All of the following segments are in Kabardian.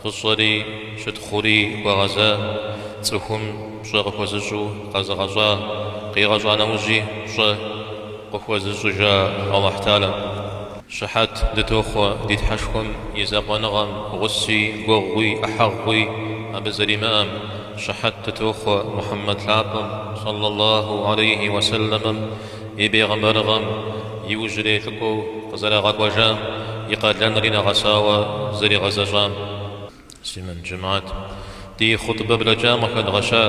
Фӏыщӏэри, щытхъури хуэгъэза, цӏыхум пщӏэ къыхуэзыщӏу къэзыгъэщӏа, къигъэщӏа нэужьи пщӏэ къыхуэзыщӏыжа Алыхьталэм щыхьэт дытохъуэ ди Тхьэшхуэм и закъуэныгъэм гъуси, гуэгъуи, ӏыхьэгъуи абы зэримыӏэм щыхьэт дытохъуэ Мухьэммэд лъапӏэм, сэлъаллаху алейхи уасэлэмэм, и бегъымбарыгъэм иужьрей лӏыкӏуэу къызэрагъэкӏуэжам и къалэнри нэгъэсауэ зэригъэзэщӏам. Муслъымэн жэмыхьэт ди хъутбэ блэкӏам къыхэдгъэща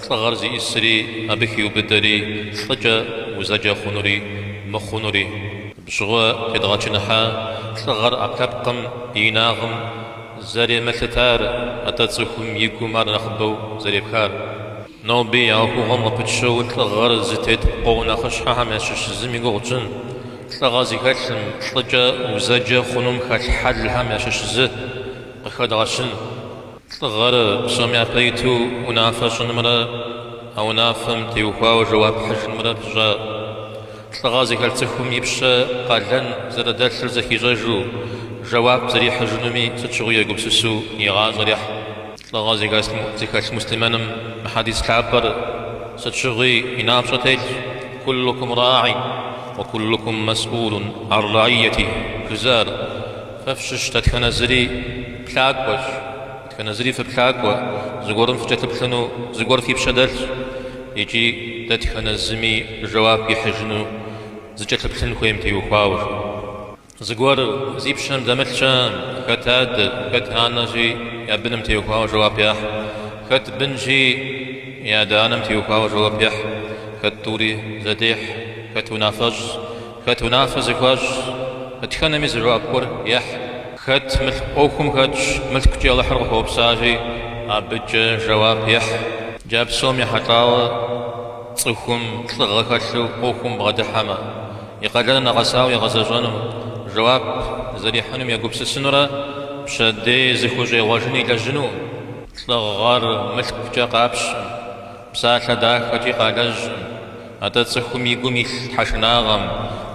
лӏыгъэр зищӏысри абы хиубыдэри лӏыкӏэ узэджэ хъунури мыхъунури. Абы щыгъуэ къедгъэчыныхьа лӏыгъэр ӏэпэпкъым и инагъым зэремылъытар, атӏэ цӏыхум и гум ар нэхъыбэу зэрепхар. Ноби а ӏуэхугъуэм къыпытщэу лӏыгъэр зытет пкъоу нэхъыщхьэхэм ящыщ зым и гугъу тщӏын, лӏыгъэ зыхэлъым, лӏыкӏэ узэджэ хъунум хэлъ хьэлхэм ящыщ зы, къыхэдгъэщын. Лӏыгъэр псоми япэ иту унафэ щӏынымрэ а унафэм теухуауэ жэуап хьыжынымрэ пыщӏа. Лӏыгъэ зыхэлъ цӏыхум и пщэ къалэн зэрыдэлъыр зэхищӏэжу, жэуап зэрихьыжынуми сыт щыгъуи егупсысу и гъащӏэр ехь. Лӏыгъэ зыхэлъ муслъымэным мы хьэдис лъапӏэр сыт щыгъуи и напщӏэ телъщ, Куллукум рааӏи ва куллукум мэсӏулун ан раиятихь, жызыӏэр. Фэ фщыщ дэтхэнэ зыри плъакӏуэщ, дэтхэнэ зыри фыплъакӏуэ, зыгуэрым фыкӏэлъыплъыну зыгуэр фи пщэ дэлъщ икӏи дэтхэнэ зыми жэуап ихьыжыну зыкӏэлъыплъын хуейм теухуауэ. Зыгуэр зи пщэм дэмылъ щыӏэм, хэт адэ, хэт анэщи, я быным теухуауэ жэуап яхь, хэт бынщи, и адэ-анэм теухуауэ жэуап ехь, хэт тӏури зэдехь, хэт унафэщӏ, хэт унафэ зыхуащӏ, дэтхэнэми зы жэуап гуэр ехь. Хэт мылъку ӏуэхум хэтщ, мылъкукӏэ Алыхьыр къыхуэупсащи, абыкӏэ жэуап ехь. Джа псом ехьэлӏауэ, цӏыхум лӏыгъэ хэлъу ӏуэхум бгъэдыхьэмэ, И къалэныр нэгъэсауэ игъэзэщӏэным, жэуап зэрихьынум егупсысынурэ пщэдей зыхущӏегъуэжын илэжьыну лӏыгъэр мылъкукӏэ къапщым, псалъэ дахэкӏи къалэжьым, атӏэ цӏыхум и гум илъ тхьэшынагъэм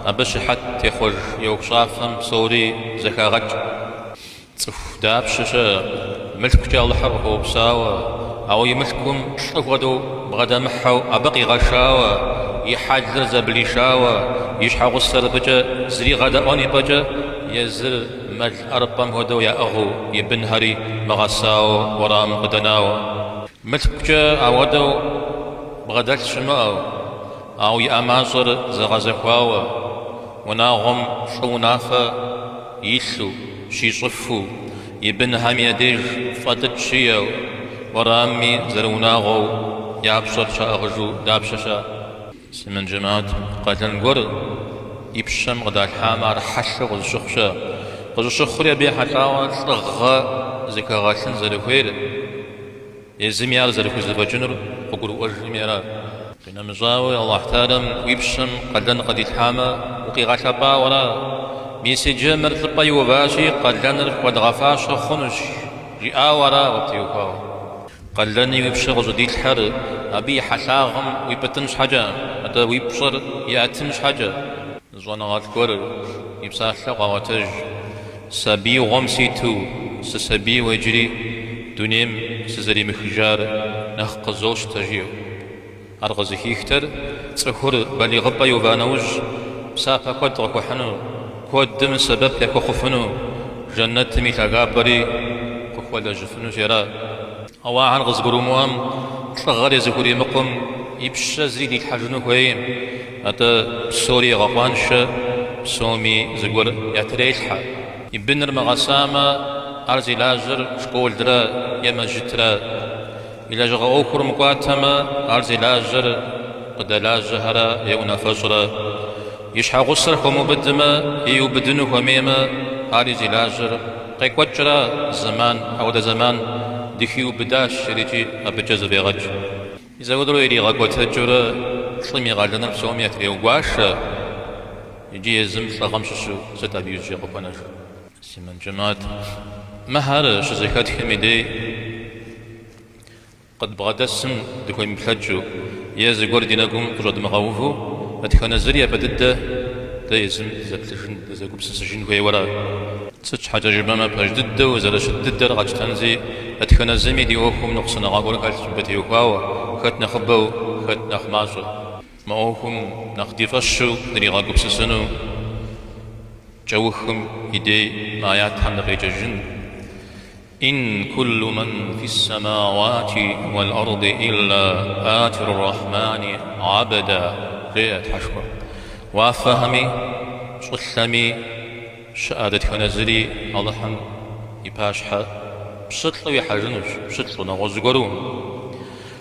абы щыхьэт техъуэж и ӏуэхущӏафэм псори зэхагъэкӏ. Цӏыху дапщэ щыӏэ Мылъкукӏэ Алыхьыр къыхуэупсауэ, ауэ и мылъкум лӏы хуэдэу бгъэдэмыхьэу абы къигъэшауэ, и хьэлыр зэблишауэ, и щхьэгъусэр абыкӏэ зригъэдэӏуэн и пӏэкӏэ, езыр мэл ӏэрыпӏэм хуэдэу яӏыгъыу, и бынхэри мыгъэсауэу уэрамым къыдэнауэ. Мылъкукӏэ ауэдэу бгъэдэлъ щымыӏэу, Ауэ и ӏэмащӏэр зэгъэзэхуауэ, унагъуэм лӏы унафэ илъу, щищӏыфу, и бынхэм я деж фӏэлӏыкӏ щиэу, уэрамми зэрыунагъуэу я пщӏэр щаӏыгъыжу дапщэ щыӏэ? Муслъымэн джэмаӏат, къалэн гуэр и пщэм къыдалъхьамэ, ар хьэлъэу къызыщыхъу щыӏэ. Къыщӏыщыхъури абы ехьэлӏауэ лӏыгъэ зыхэгъэлъын зэрыхуейр, Езыми ар зэрыхузэфӏэкӏынур къыгурыӏуэжыми ара. Къинэмыщӏауэ, Алыхь Тэхьэлам уи пщэм къалэн къыдилъхьамэ, укъигъэлъэпӏауэ ара. Мис иджы мыр лӏыпӏэ иуващи, къалэныр хуэдгъэфащэ хъунущ, жиӏауэ ара къыптеухуауэ. Къалэни уи пщэ къыщӏыдилъхьэр абы и хьэлъагъым уипӏытӏын щхьэкӏэ, атӏэ уи пщӏэр иӏэтын щхьэкӏэ. Щӏэныгъэлӏ гуэр и псалъэу къаӏуэтэж, Сабиигъуэм ситу сысабийуэ иджыри дунейм сызэримыхыжар нэхъ къызощтэ, жиӏэу. Ар къызыхихтэр цӏыхур балигъыпӏэ иува нэужь, псапэ куэд къыхуэхьыну, куэдым сэбэп яхуэхъуфыну, жэнэтым и лъагапӏэри къыхуэлэжьыфыну жери ара. Ауэ ахэр къызыгурымыӏуэм, лӏыгъэри зыхуримыкъум, и пщэ зыри дилъхьэжыну хуейм. Атӏэ, псори егъэкъуаншэ, псоми зыгуэр ятрелъхьэ. И быныр мыгъэсамэ, ар зи лажьэр школрэ е мэжьытрэ. И лэжьыгъэ ӏуэхур мыкӏуатэмэ, ар зи лажьэр къыдэлажьэхэрэ е унафэщӏрэ. И щхьэгъусэр хуэмыубыдмэ, иубыдыну хуэмеймэ, ари зи лажьэр къекӏуэкӏра зэман, апхуэдэ зэман дыхиубыдащ жери икӏи абыкӏэ зэфӏегъэкӏ. Зэхуэдэу иригъэкӏуэтэкӏыурэ лӏым и къалэныр псоми ятрегуашэ иджы езым лӏыгъэм щыщу сыт абы иужькӏэ къыхуэнэжыр? Муслъымэн джэмаӏат, мыхэр щызэхэтхым и дей. Къыдбгъэдэсым дыхуемыплъэкӏыу е зыгуэр ди нэгум къыщӏэдмыгъэуву, дэтхэнэ зыри япэ дыдэ дэ езым дызэплъыжын, дызэгупсысыжын хуейуэ ара. Сыт щхьэкӏэ жыпӏэмэ, пэж дыдэу зэрыщыт дыдэр къэтщтэнзи, дэтхэнэ зыми ди ӏуэхум ныкъусаныгъэ гуэр хэлъщ мыбы теухуауэ, хэт нэхъыбэу, хэт нэхъ мащӏэу. Мы ӏуэхум нэхъ ди фӏэщу дыригъэгупсысыну кӏэухым и дей мы аятхэм дыкъеджэжын. Ин куллу ман фис-самауати уал-арди илла атир-рахмани гӏабда, жеӏэ Тхьэшхуэ. Уафэхэми, щӏылъэми щыӏэ дэтхэнэ зыри Алыхьым и пащхьэ пщылӏу ихьэжынущ, пщылӏу, нэгъуэщӏ зыгуэру.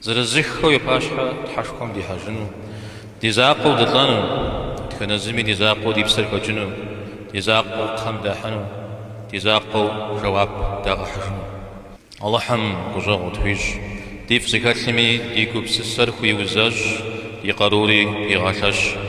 Зырызыххэу и пащхьэ Тхьэшхуэм дихьэжыну, ди закъуэу дылӏэну, дэтхэнэ зыми ди закъуэу ди псэр хэкӏыну, ди закъуэу кхъэм дахьыну, ди закъуэу жэуап дагъэхьыжыну. Алыхьым гущӏэгъу тхуищӏ, дифӏ зыхэлъми ди гупсысэр хуиузэщӏ, ди къарури хуигъэлъэщ.